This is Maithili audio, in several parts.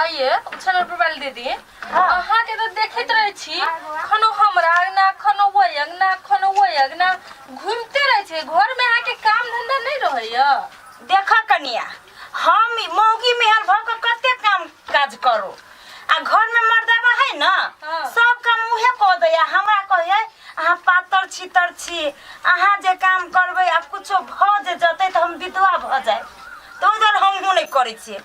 आइए उछल पर वाली दीदी अहाँ के तो देखत रहे छी खनो हमरा अंगना खनो वो अंगना खनो वो अंगना घूमते रहे छी घर में अहाँ के काम धंधा नहीं रहे या देख कनिया हम ई मौगी मेहर भऽ कऽ कते काम काज करू आ घर में मर्दाबा है न हाँ। सब काम उहे कऽ दैया हमरा कहै अहाँ पातर छी तर छी अहाँ जे काम करबै आब कुछो भऽ जे जतै तऽ हम विधवा भऽ जायब तऽ ओहि दुआरे हमहूँ नहि करै छियै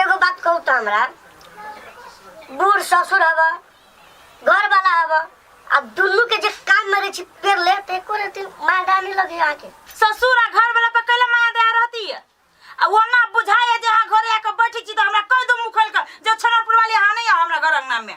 एगो बात कहू तो हमरा बूढ़ ससुर हवा घर वाला हवा आ दुनू के जे कान में रही पेड़ ले ते एको रहती मार डालने लगे आके ससुर आ घर वाला पर कैला माया दया रहती है आ वो ना बुझाए जे हाँ घरे आके बैठी छी तो हमरा कह दो मुखल कर जो छनरपुर वाली हाँ नहीं है हमरा घर अंगना में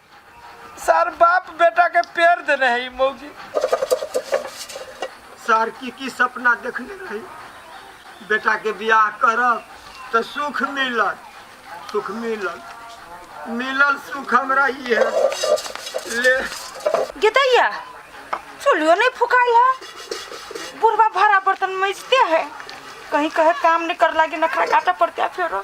सर बाप बेटा के पेड़ देने है ई मौगी सर की की सपना देखने रही बेटा के बियाह करब तो सुख मिलल सुख मिलल मिलल सुख हमरा ई है ले गेदैया चुलियो नहीं फुकाइल है बुढ़वा भरा बर्तन मैजते है कहीं कहे काम नहीं कर लागे नखरा काटा पड़ते है फेरो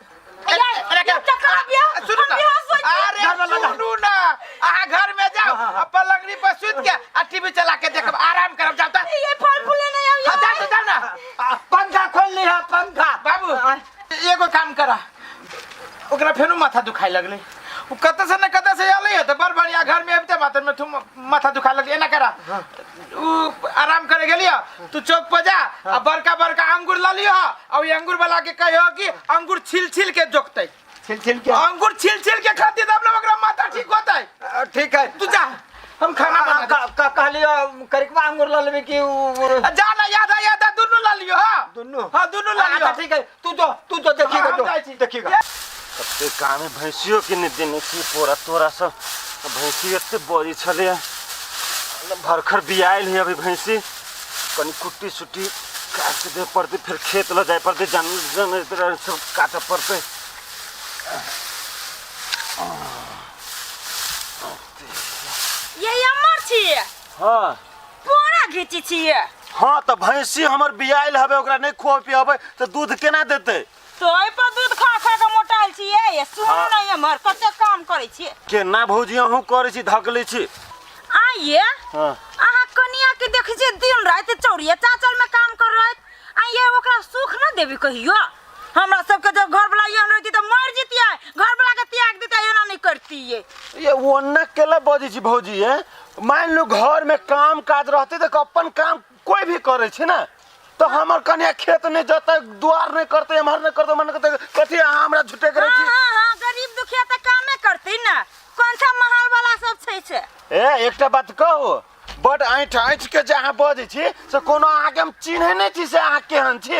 अरे का- सुनू ना अरे सुनू ना अहाँ घर में जाओ आ पलंगड़ी पर सुत के आ टीवी चला के देखब आराम करब जाओ ता ये फल फूले नहीं आइयो हाँ, जाओ तो जाओ ना आ, पंखा खोल लिहा पंखा बाबू एगो काम करा ओकरा फेनो माथा दुखाए लगले उ कतऽ से न कतऽ से अलै है तऽ बड़ बढ़िया घर में अबिते माथा में थू माथा दुखाए लगले एना करा उ आराम करे गेली ह तू चौक पर जा आ बड़का बड़का अंगूर ला लियो ह और ये अंगूर वाला के कहियो कि अंगूर छिल छिल के जोकते छिल छिल के अंगूर छिल छिल के खाती तब लोग ओकरा माथा ठीक होते अ, ठीक है तू जा हम खाना बना दे। का- का- कहली अ, करिकवा अंगूर ला लेबे कि उ- उ- आ, जा ना याद आ याद आ दुनू ला लियो ह दुनू हाँ दुनू ला लियो अच्छा, ठीक है तू जो तू जो देखी हाँ, हम जाई छी। देखी गा तब ते गाँव में भैंसियो के नहीं देने की पोरा तोरा सब अब भैंसी एते बड़ी छले मतलब भरखर बियायल है अभी भैंसी कनी कुट्टी सुट्टी काट के दे पड़ते फिर खेत ल जाए पड़ते जन जन तरह सब काटे पड़ते ये अमर छी हाँ कोना घीची छिए हाँ तो भैंसी हमर बियाइल हवे ओकरा नहीं खुआ पियाबे तो दूध केना देते तोय पर दूध खा खा के मोटाइल छिए ये सुन हाँ। नहीं हमर कते काम करे छिए केना भौजी अहूँ करे छी धकले छी आइए हाँ अहाँ कनिया के देख जे दिन रात चौड़िया चाचल में काम कर रहे आइए ओकरा सुख न देबी कहियो हमरा सबके जब घर वाला यहाँ रहती तो मर जीतिए घर वाला के त्याग देते एना नहीं करती ये ये ओन्ना केला बजी छी भौजी है मानि लू घरमे काम काज रहतै तऽ अपन काम कोइ भी करै छै ने तऽ हमर कन्या खेत नहि जतै दुआर नहि करतै एम्हर नहि करतै मन करतै कथी अहाँ हमरा झुटे करै छी हाँ, हाँ, गरीब दुखिया तऽ कामे करतै ने कोन सा महल वाला सब छै से ए एकटा बात कहू बड ऐठ ऐठ के जे अहाँ बजै छी से कोनो अहाँके हम चिन्है नहि छी से अहाँ केहन छी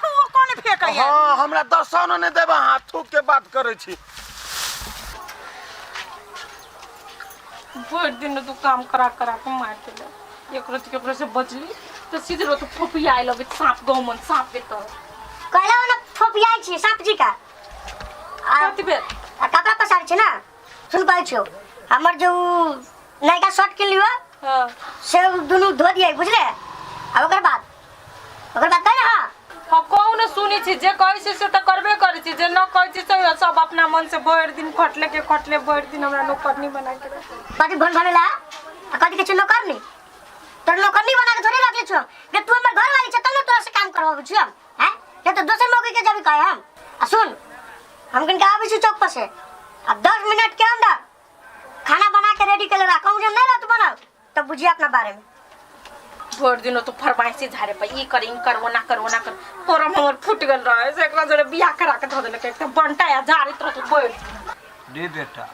तू कोन फेकै है हाँ हमरा दर्शन नहीं देबा हाँ थूक के बात करे छी भरि दिन तू काम करा करा के मार देले एक रति के से बचली तो सीधे रत फोपिया आइल अबे सांप गाँव मन सांप के तर कहले ओने फोपिया छी सांप जी का आ कति बेर आ कपड़ा पसार छी ना सुन कहै छियो हमर जो नयका शर्ट किनलियो हाँ से दुनू धो दिए बुझले आ ओकर बाद ओकर बात कर रहा हम कहू ने सुनी छी जे कहै छी से तऽ करबे करै छी जे न कहै छी से सब अपना मन से भरि दिन खटले के खटले भरि दिन हमरा नौकरनी बना के रख कथी भोन भरेला आ कथी के चुनो करनी तोर नौकरनी बना के थोड़े रखले छो जे तू हमर घर वाली छ तब ने तोरा से काम करवाबे छी हम हैं जे तो दोसर मौके के जब कहे हम आ सुन हम किन के आबे छी चौक पर से आ 10 मिनट के अंदर खाना बना के रेडी कर ले रहा कहू जे नहीं रहत बनल तब बुझिए अपना बारे में भर दिन तो फरमाइशी झारे पर ई कर ई कर ओना कर ओना कर तोरा में हमर फूट गेल रहे से एकरा जोरे बियाह करा के धऽ देलक एकदम बनटा या झारे तोरा तो बोल रे बेटा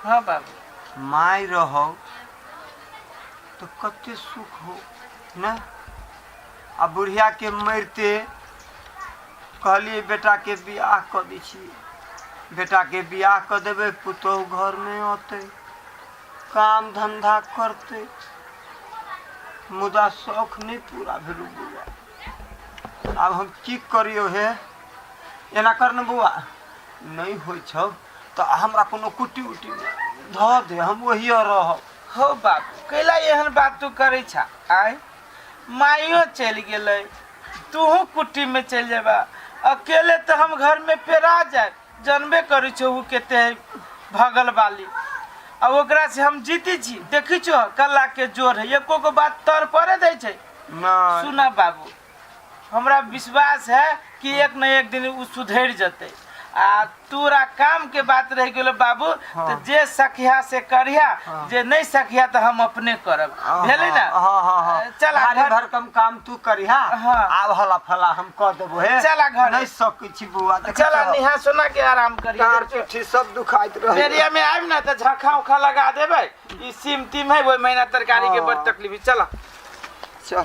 हाँ बाबू माय रहो तो कते सुख हो ना आ बुढ़िया के मरते कहलिए बेटा के बियाह कऽ दै छियै बेटा के बियाह कऽ देबै पुतोहु घरमे अतै काम धंधा करतै मुदा शौख नहि पूरा भेलौ बौआ आब हम की करियौ हे एना कर ने बौआ नहि होइ छौ तऽ हमरा कोनो कुट्टी उट्टी धऽ दे हम ओहिए रहब हो बाबू कैला एहन बात तू करै छा आय माइयो चलि गेलै तूहू कुट्टीमे चलि जेबा अकेले तऽ हम घरमे पेरा जायब जनबे करै छौ ओ केते है भगल वाली आ ओकरा से हम जीती छी देखी छो कला के जोर है एको गो बात तर पड़े दै छै नहि सुना बाबू हमरा विश्वास है कि एक न एक दिन ओ सुधरि जतै आ तोरा काम के बात रह गेलो बाबू तऽ जे सखिया से करिया जे नहि सखिया तऽ हम अपने करब भेलै ने हाँ हाँ हाँ चल आ भारी घर- भरकम काम तू करिहा हाँ। आब हला फला हम कह देबो हे चल आ घर। नहीं सकै छी बौआ देखै चल आ छहो? नेहा सोना के आराम डाँड़ करिया पीठी सब दुखाइत रहे बेरिया में आबि ना तऽ झखा उखा लगा देबै ई सीम तीम है ओहि महीना तरकारी के बड़ तकलीफ है। चल चल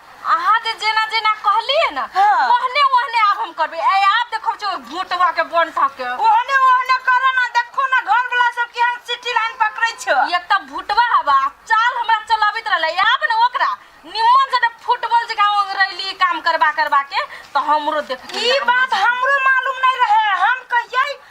अहाँ जे जेना जेना कहलिए ना हाँ। ओहने ओहने आब हम करबे ए आब देखो जो भूतवा के बन सके ओहने ओहने करो ना देखो ना घर वाला सब केहन सिटी लाइन पकड़े छ एक त भूतवा हवा चाल हमरा चलाबित रहले आब ने ओकरा निम्मन से फुटबॉल जका रैली काम करबा करबा के तो हमरो देख ई बात हमरो मालूम नहीं रहे हम कहिए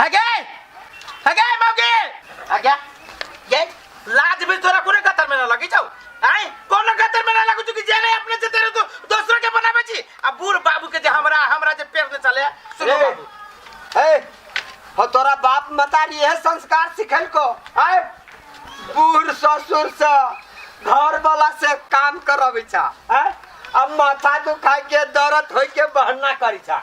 हगे हगे मौगे हगे ये लाज भी तोरा कोने कतर में ना लगी जाऊ आई कोने कतर में ना लगू चुकी जे नहीं अपने से तेरे तो दूसरा के बनावे छी आ बूढ़ बाबू के जे हमरा हमरा जे पेड़ ने चले सुनो ए, बाबू ए, हो तोरा बाप मतारी यह संस्कार सिखल को आय बूढ़ ससुर से घर वाला से काम करबी छा आय अब माथा दुखाई के दर्द होई के बहना करी छा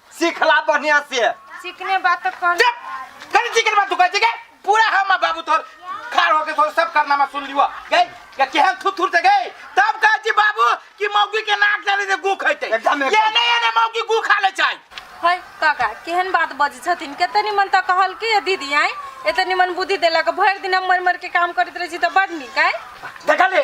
सिखला बढ़िया से चिकने बात तो कह चुप! कनी चिकन बात तू कहै छै के पूरा हम आ बाबू तोर खार होके तोर सब कारनामा सुन लियो गई के केहन थुथुर से गई तब कहै छी बाबू कि मौगी के नाक डाले से गू खैते एकदम, एकदम। ये नहीं एने मौगी गू खा ले चाही है काका केहन बात बजै छथिन कते निमन तऽ कहल कि दीदी आइ एते निमन बुद्धि देलक भरि दिन हम मरि मरि के काम करैत रहै छी तऽ बड नीक आइ देखले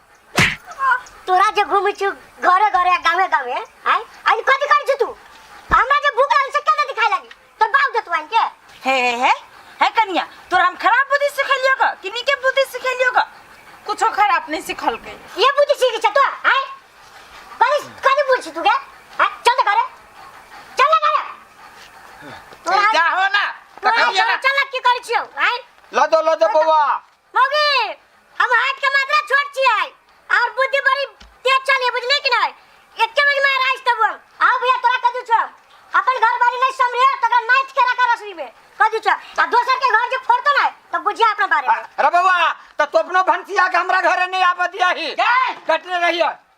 तोरा जे घूमे छी घरे घरे गावे गावे आय आज कथी कर छी तू हमरा जे भूख लागल से केना दिखाई लागी तोर बाप देत वाइन के हे हे हे हे कनिया तोरा हम खराब बुद्धि सिखेलियो का कि नीके बुद्धि सिखेलियो का कुछो खराब नहीं सिखल के ये बुद्धि सीखी छ तो आय कथी कथी बोल छी तू के आय चल त घरे चल ना घरे तोरा जा हो ना तोरा कहिया ना चल की कर छी आय लदो लदो बौआ मौगी हम हाथ के मात्रा छोट छियै और बुद्धि बड़ी तेज चली बुझली कि नहीं एके बजे में राज तब हम आओ भैया तोरा कह दू छ अपन घर बारी नहीं समरे तकर नाच के रखा रसरी में कह दू छ आ दोसर के घर जे फोड़तो ना तो बुझिया अपना बारे में अरे बबुआ तो तू अपनो भंसिया के हमरा घरे नहीं आबे दिया ही कटने रहिए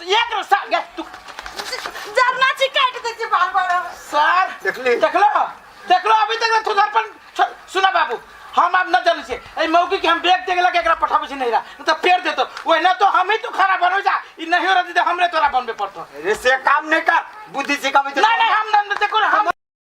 एक रस्ता गे तू जरना छी काट दे छी बार बार सर देखली देखलो देखलो अभी तक तू घर पर सुना बाबू हम अब न जाने से ए मौकी के हम बैग देख लगे एकरा पठाबे छी नहीं रहा न तो पेड़ देतो ओए ना तो हम ही तू खाना बनो जा ई नहीं हो रहती तो हमरे तोरा बनबे पड़तो रे से काम नहीं कर बुद्धि सिखावे नहीं नहीं हम न देखो हम